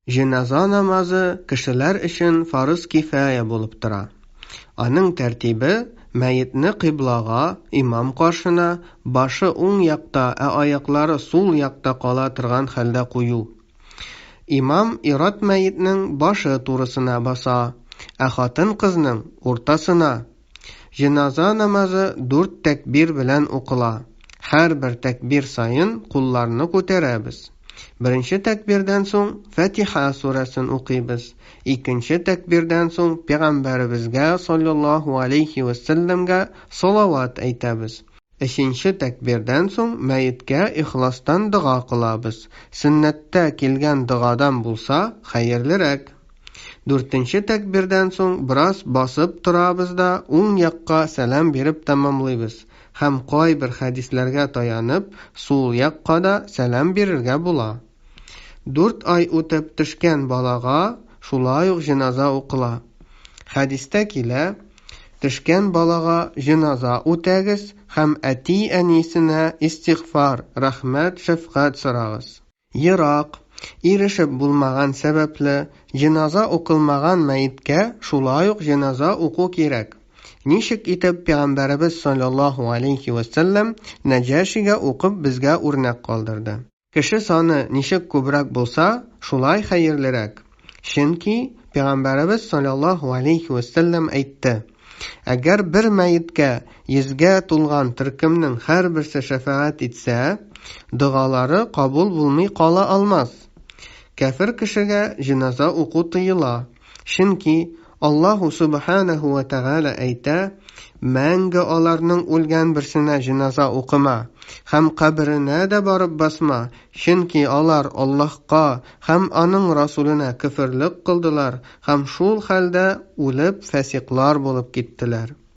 Җеназа намазы кешеләр өчен фарыз кифая булып тора. Аның тәртибе, мәетне кыйблага, имам каршына, башы уң якта, ә аяклары сул якта кала торган хәлдә кую. Имам ир-ат мәетнең башы турысына баса, ә хатын-кызның, уртасына. Җеназа намазы дүрт тәкбир белән укыла. Һәрбер тәкбир саен кулларны күтәрәбез. Беренче тәкбирдән соң Фәтиха сүрәсен укыйбыз, икенче тәкбирдән соң Пәйгамбәребезгә салләллаһу алейһи вә сәлләмгә салават әйтәбез, өченче тәкбирдән соң мәеткә ихластан дога кылабыз, сөннәттә килгән догадан булса, хәерлерәк. Дүртенче тәкбирдән соң бераз басып торабыз да уң якка сәлам биреп тәмамлыйбыз һәм кайбер хәдисләргә таянып сул якка да сәлам бирергә була. Дүрт ай үтеп төшкән балага шулай ук җеназа укыла. Хәдистә килә, Төшкән балага җеназа үтәгез һәм әти-әнисенә истигъфар, рәхмәт, шәфкать сорагыз. Ерак, ирешеп булмаган сәбәпле, җеназа укылмаган мәеткә шулай ук җеназа уку кирәк. Ничек итеп Пәйгамбәребез салләллаһу галәйһи вә сәлләм Нәҗашигә укып безгә үрнәк калдырды. Кеше саны ничек күбрәк булса, шулай хәерлерәк. Чөнки Пәйгамбәребез салләллаһу алейһи вә сәлләм әйтте, Әгәр бер мәеткә йөзгә тулган төркемнең һәрберсе шәфәгать итсә, догалары кабул булмый кала алмас. Кәфер кешегә җеназа уку тыела, чөнки Аллаһу субханәһү вә тәгалә әйтә, Мәңге аларның үлгән берсенә җеназа укыма һәм каберенә дә барып басма, Чөнки алар Аллаһка һәм Аның Расүленә көферлек кылдылар һәм шул хәлдә үлеп, фәсикълар булып киттеләр.